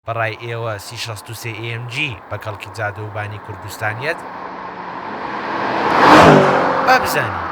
بە ڕای ئێوە سی شەست و سێ AMG بە کەڵکی جادە و بانی کوردستان یەت؟ با بزانین.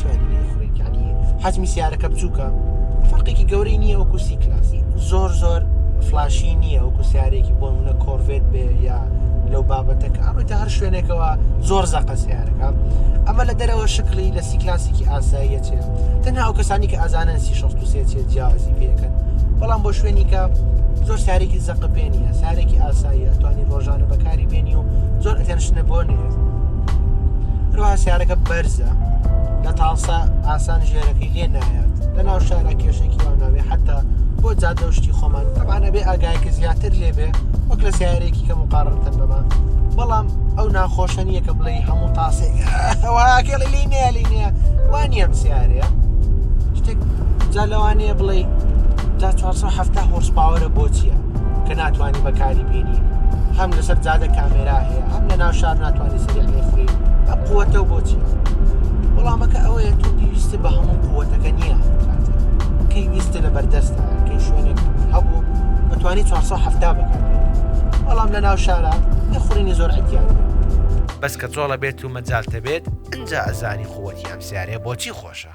سوێندی خڕیت ینی حەجمی سیارەکە بچووکە فەرقێکی گەورەی نییە وەکو سی کلاسی زۆر زۆر فلاشی نییە وەکو سیارێکی بۆ منە کۆرڤێت بێ یا لەو بابەتەکە ئەڕێتە هەر شوێنێکەوە زۆر زەقە سیارەکە ئەمە لە دەرەوە شکلی لە سی کلاسیکی ئاساییە چێ تەنها ئەو کەسانی کە ئازانن سی شخص چێ جیازی پێکەن بەڵام بۆ شوێنی کە زۆر سارێکی زەقە پێێنە سارێکی ئاساییە توانی ڕۆژانە بەکاری بێنی و زۆر ئەتەنشنە بۆ نێ هەروە سیارەکە بەرزە لە تاڵسا ئاسان ژێرەکەی لێ نایات لە ناو شارە کێشێکی واناوێ حتا بۆ جادە شتی خۆمان تەبانە بێ ئاگایکە زیاتر لێبێ وەک لە سیارێکی کە مقارڕتن بەمان بەڵام ئەو ناخۆشە نییە کە بڵێ هەموو تاسێکێڵ لی نیە لی نیە وانیم سیارەیە شتێک جا لەوانەیە بڵێ تا 470 هۆرس پاوەرە بۆ چییە کە ناتوانانی بەکاری بینی هەم لەسەر جادە کامێرا هەیە هەم لە ناو شار ناتوانانی سریع لێفری بە قووەتە و بۆچی وەڵامەکە ئەوەیە تۆ پێویستە بە هەموو قووەتەکە نییە کەی ویستە لە بەردەستە کەی شوێنێک هەبوو بەتوانانی 470 بکات بەڵام لە ناو شارە نەخورینی زۆر ئەتیان بەس کە جۆڵە بێت و مەجالتە بێت ئەجا ئەزانی قووەتی ئەم سیارەیە بۆچی خۆشە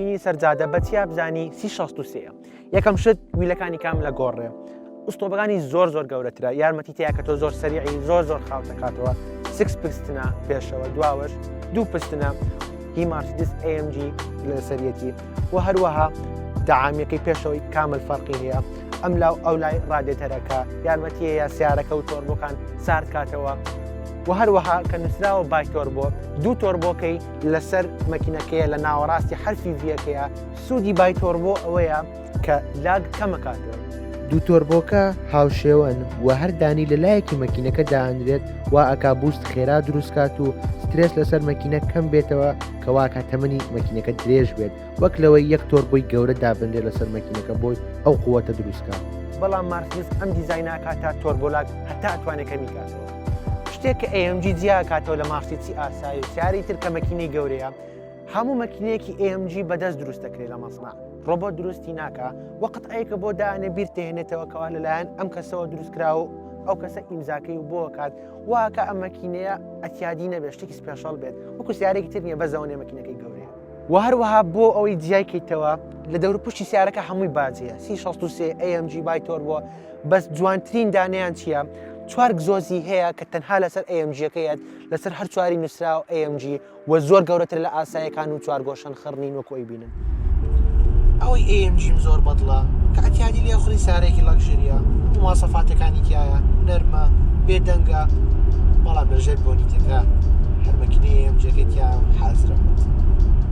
ی سەر جادە بە چیا بزانی سی شەست و سێ یەکەم شت ویلەکانی کام لە گۆڕێ ئوستۆبەکانی زۆر زۆر گەورەترە یارمەتی تیا کە تۆ زۆر سەریعی زۆر زۆر خاو دەکاتەوە سکس پستنە پێشەوە دواوەش دوو پستنە هی مارسدس AMG لەسەرەتی و هەروەها داعامیەکەی پێشەوەی کامل فەرقی هەیە ئەم لاو ئەو لای ڕادێتەرەکە یارمەتیە یا سیارەکە و تۆربەکان ساردکاتەوە و هەروەها کە نووسراوە بای تۆربۆ دوو تۆربۆکەی لەسەر مەکینەکەیە لە ناوەڕاستی حرفی ڤیەکەیە سوودی بای تۆربۆ ئەوەیە کە لاگ کەمەکاتەوە. دوو تۆربۆکە هاوشێوەن و هەر دانی لە لایەکی مەکینەکە دانرێت وا ئەکا بوست خێرا دروستکات و سترێس لەسەر مەکینە کەم بێتەوە کە واکا تەمەنی مەکینەکە درێژ بێت وەک لەوەی یەک تۆربۆی گەورە دابنرێت لەسەر مەکینەکە بۆی ئەو قوەتە دروستکات. بەڵام مارسدیس ئەم دیزاینە ئەکاتە تۆربۆلاگ هەتا ئەتوانێت کەمی کاتەوە. شتێک کە ئێم جی جیا کاتەوە لە ماسیی ئاسایی و سیاری تر کە مەکینەی گەورەیە هەموو مەکینەیەکی ئێم جی بەدەست دروست دەکرێت لە مەسنا ڕۆبۆت دروستی ناکە وەقت ئەیکە بۆ دانێ بیر تێنێتەوە کەوا لەلایەن ئەم کەسەوە دروستکرا و ئەو کەسە ئیمزاکەی و بۆکات واکە ئەم مەکینەیە ئەتیادی نەبێت شتێکی سپێشڵ بێت وەکو سیارێکی تر نیە بەزەونێ مەکینەکەی گەورەیە و هەروەها بۆ ئەوەی جیای کەیتەوە لە دەور پشتی سیارەکە هەمووی باجەیە سی 16 ئەمG بای تۆر بووە بەس جوانترین دانیان چییە؟ چوار گزۆزی هەیە کە تەنها لەسەر ئەیەمجیەکەیەت لەسەر هەر چواری نووسراوە AMG و زۆر گەورەتر لە ئاسایەکان و چوارگۆشەن خڕنین وەکو ئەی بینن ئەوەی ئەیەمجیم زۆر بەدڵە کاتیادی لێ خوری سارێکی لەکشریە موواسەفاتەکانی تایە نەرمە بێدەنگە بەڵام لەژێر بۆنی تێکە هەرمەکینەیەم جێگەتیا حازرە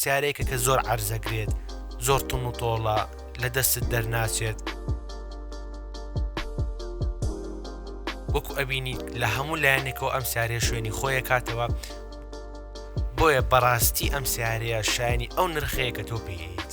سیارەیەکە کە زۆر عەرزەگرێت زۆر تون و تۆڵە لە دەستت دەرناچێت وەکو ئەبینی لە هەموو لایەنێکەوە ئەم سیارێ شوێنی خۆیە کاتەوە بۆیە بەڕاستی ئەم سیارەیە شایانی ئەو نرخەیە کە تۆ پێیت